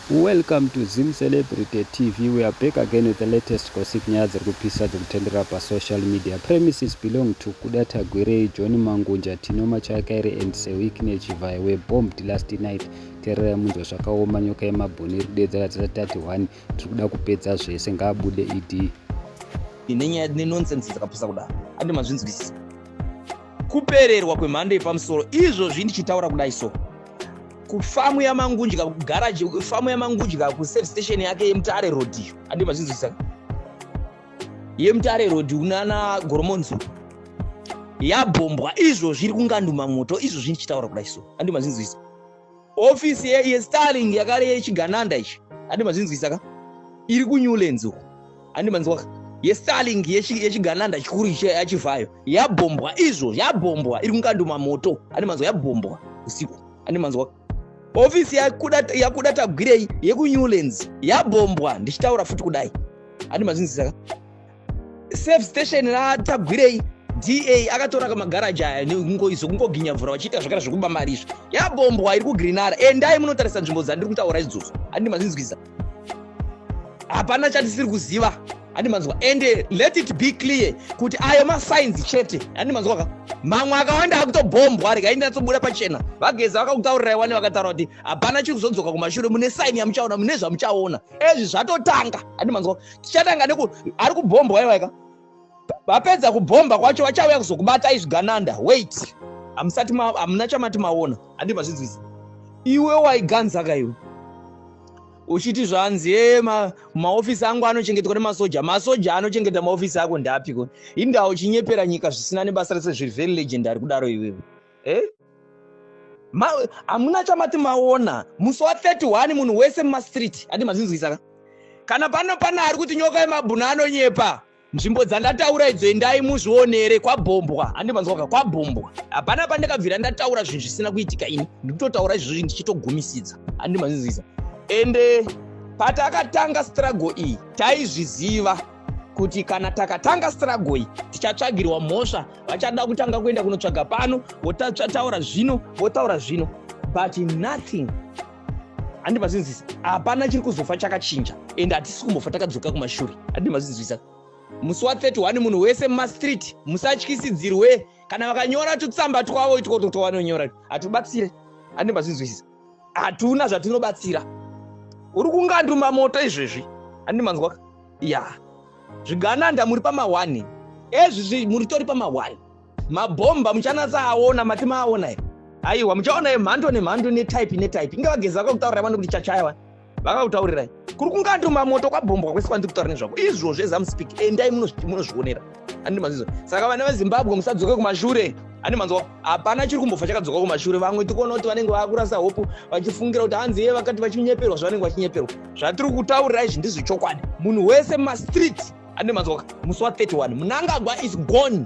Welcome to Zim Celebrity TV, we are back again with the latest gossip nyaya dziri kupisa dziri kutenderera pasocial media. Premises belong to Kuda Tagwirei, John Mangunja, Tino Machakaire and Sewik Nechivai were bombed last night. Tererai munzwa zvakaoma nyoka yemabhoni iri kudedzera dzisati tati one tiri kuda kupedza zvese ngaabude ED. Nenyaya nenonsense dzakapisa kudaro andi mazvinzwisisa. Kupererwa kwemhando yepamusoro izvozvi ndichitaura kudai so kufamu yamangudya kugaraji famu yamangudya kusafe station yake yemutare road iyo andi mazvinzwisisa yemutare road kunana goromonzo yabhombwa izvo zviri kunganduma moto izvo zvini chitaura kudai so andi mazvinzwisisa ofisi yestarling yakare yechigananda ichi andi mazvinzwisisa ka iri kunewlands uku handi manzwa yestarling yechigananda chikuru yachivhayo yabhombwa izvo yabhombwa iri kunganduma moto handi manzwa yabhombwa usiku handi manzwa ofisi yakuda tagwirei yekunewlands yabhombwa ndichitaura futi kudai handi mazvinzisaka safe station ratagwirei da akatora kamagaraji aya kungoizo kungoginya mvura vachiita zvakara zvekuba mari izvi yabombwa iri kugrinara endai munotarisa nzvimbo dzandiri kutaura idzodzo andimazvinzwiza hapana chatisiri kuziva handi manzwa and eh, let it be clear kuti ayo masainzi chete handi manzwa ka mamwe akawanda akutobhombwa rega indi natsobuda pachena vageza vakakutaurira iwani vakataura kuti hapana chiri kuzodzoka kumashure mune saini yamuchaona mune zvamuchaona ezvi zvatotanga handi manzwa tichatanga neku ari kubhombwa iwaika vapedza kubhomba kwacho vachauya kuzokubata izvigananda wait hamusati hamuna chamati maona handi mazvinzwisa iwe waiganzaka iwe uchiti zvanzi e ma, maofisi angu anochengetwa nemasoja masoja anochengeta maofisi ako ndapiko indawo chinyepera nyika zvisina nebasa rese zviri very legendary kudaro iwewe e eh? hamuna chamati maona musi wa 31 munhu wese mumastreet ati mazvinzwisaka kana pano pane ari kuti nyoka yemabhuna anonyepa nzvimbo dzandataura idzo endai muzvionere kwabhombwa handimanzwaka kwabhombwa hapana pandakabvira ndataura zvinhu zvisina kuitika ini ndikutotaura izvozvi ndichitogumisidza handimanzwisisa ende patakatanga struggle iyi taizviziva kuti kana takatanga struggle iyi tichatsvagirwa mhosva vachada kutanga kuenda kunotsvaga pano votataura zvino votaura zvino but nothing handi mazinzwisa hapana chiri kuzofa chakachinja and hatisi kumbofa takadzoka kumashure handi mazinzwisa musi wa 31 munhu wese mumastreet musatyisidzirwe kana vakanyora tutsamba twavo itwo totowanonyora hatibatsire handi mazinzwisisa hatuna zvatinobatsira uri kunganduma moto izvezvi handi manzwa ya zvigananda muri pamawani ezvizvi muri tori pamawani mabhomba muchanatsa aona mati maaona aiwa muchaona emhando nemhando netype netype inge vageza vakakutaurira vano kuti chachaiwa vakakutaurirai kuri kungatuma moto kwabhombwa kwese kwandiri kutaura nezvako izvozvo as amspeak endai munozvionera andi manzizvo saka vana vezimbabwe musadzoke kumashure andi manzwa hapana chiri kumbofa chakadzoka kumashure vamwe tikuona kuti vanenge vakurasa hope vachifungira kuti hanzi iye vakati vachinyeperwa zvavanenge vachinyeperwa zvatiri kutaurira izvi ndizvo chokwadi munhu wese mumastreet andi manzwa musi wa 31 munangagwa is gone